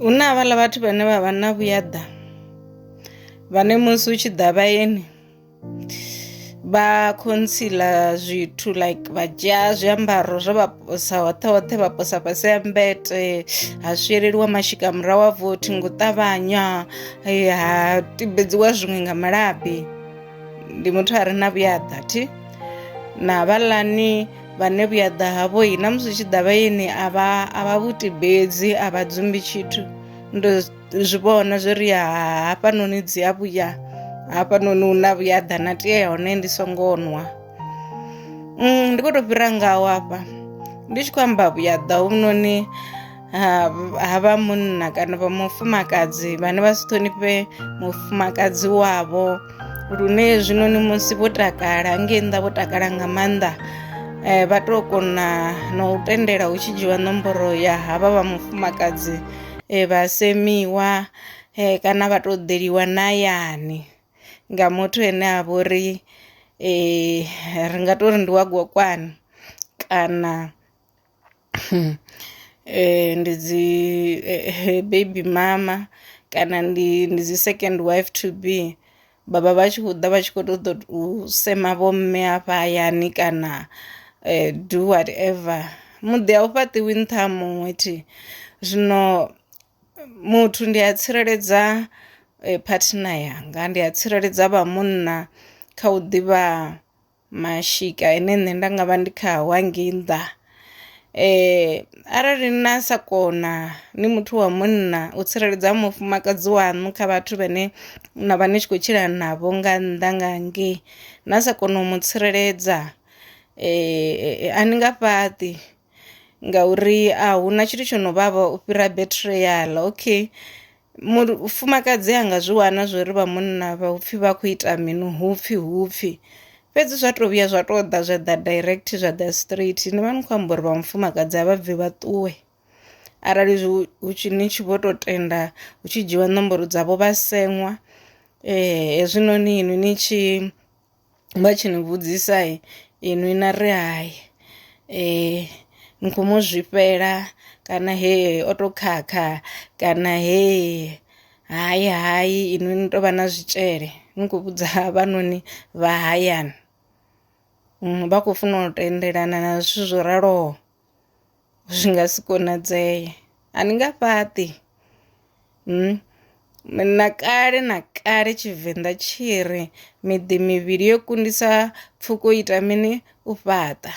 hu na havhaḽa vhathu vhane vha vha na vhuyaḓa vhane musi hu tshi ḓa vhayeni vha khontsila zwithu like vha dzhia zwiambaro zwo vha posa hoṱhe hoṱhe vha posa fhasi ya mbete ha swieleliwa mashika murahu a vothi ngo ṱavhanya ha tibedziwa zwiṅwe nga malabi ndi muthu a re na vhuyaḓa thi na vhalani vhane vhuyaḓa havho-i na musi tshi ḓavha ini a vha a vha vhutibedzi a vha dzumbi tshithu ndo zwi vhona zwo ri hafhanoni dzi a vhuya hafhanoni hu na vhuyaḓa na tea ya hone ndi songo nwa mm, ndi khou tou fhira ngaho hafha ndi tshi khou amba vhuyaḓa hovhunoni ha ha vha munna kana vha mufumakadzi vhane vha si ṱhonifhe mufumakadzi wavho lune zwinoni musi vho takala ngei nnḓa vho takala nga maanḓa eh, vha tou kona na u tendela hu tshi dzhiwa nomboro ya havha vha mufumakadzi eh, vha semiwa eh, kana vha tou ḓeliwa nayani nga muthu ene a vha uri eh, ri nga tou ri ndi wa gokwani kana ndi dzi baby mama kana ndi ndi dzi second wife to be vha vha vha tshi khou ḓa vha tshi kho ṱoḓa u sema vho mme hafha hayani kana do what ever muḓi a u fhaṱiwi nṱha ha muṅwe thi zwino muthu ndi a tsireledza phathinani yanga ndi a tsireledza vha munna kha u ḓivha mashika ane nṋe nda nga vha ndi khao hangei nnḓa. Arali na sa kona ni muthu wa munna u tsireledza mufumakadzi waṋu kha vhathu vhane na vha ni tshi khou tshila navho nga nnḓa nga hangei na sa kona u mu tsireledza a ni nga fhaṱi ngauri a huna tshithu tsho no vhavha u fhira betri yaḽa okay. Mufumakadzi a nga zwi wana zwori vha munna vha upfhi vha khou ita mini hupfhi hupfhi fhedzi zwa to vhuya zwa to ḓa zwa ḓa direct zwa ḓa straight ni vha ni khou amba uri vha mufumakadzi a vha bvi vha ṱuwe. Arali zwi hu tshi ni tshi vho to tenda hu tshi dzhiwa nomboro dzavho vha seṅwa hezwinoni inwi ni tshi vha tshi ni vhudzisa inwi na ri hai ni kho mu zwifhela kana he o to khakha kana he hai hai inwi ni tovha na zwitshele ni kho vhudza havhanoni vha hayani vha khou funa u tendelana na zwithu zwo raloho. zwi nga si konadzee a ni nga fhaṱi na kale na kale tshivenḓa tshi ri miḓi mivhili yo kundisa pfhuko ita mini u fhaṱa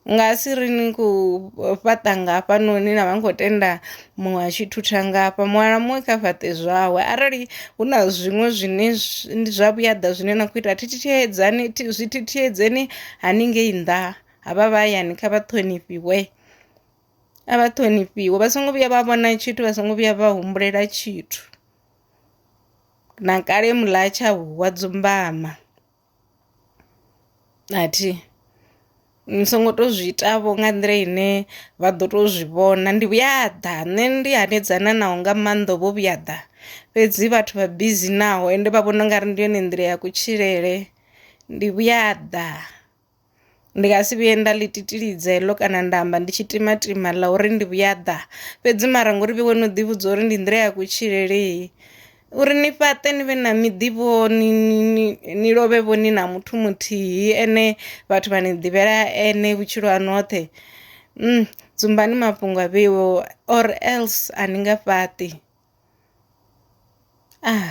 nga si ri ni khou fhaṱa ngafha noni na vha ni khou tenda muṅwe a tshi thutha ngafha muṅwe na muṅwe kha fhaṱe zwawe arali hu na zwiṅwe zwine zwa vhuyaḓa zwine na khou ita thi thithiedzani zwi thithiedzeni haningei nnḓa. havha vha hayani kha vha ṱhonifhiwe a vha ṱhonifhiwe vha songo vhuya vha vhona tshithu vha songo vhuya vha humbulela tshithu na kale mula tsha huwa dzumbama athi ni songo to zwi ita vho nga nḓila ine vha ḓo to zwi vhona ndi vhuya ḓa nṋe ndi hanedzana naho nga maanḓa vho vhuya ḓa fhedzi vhathu vha bizi naho ende vha vhona ungari ndi yone nḓila ya kutshilele ndi vhuya ḓa. Ndi nga si vhuye nda ḽi titilidza heḽo kana nda amba ndi tshi timatima ḽa uri ndi vhuya ḓa fhedzi mara ngori vhe wo no ḓi vhudza uri ndi nḓila ya kutshilele uri ni fhaṱe ni vhe na miḓi vho ni ni ni lovhe vho ni na muthu muthihi ane vhathu vha ni ḓivhela ene vhutshilo haṋu hoṱhe dzumbani mafhungo a vheiwe or else a ni nga fhaṱi .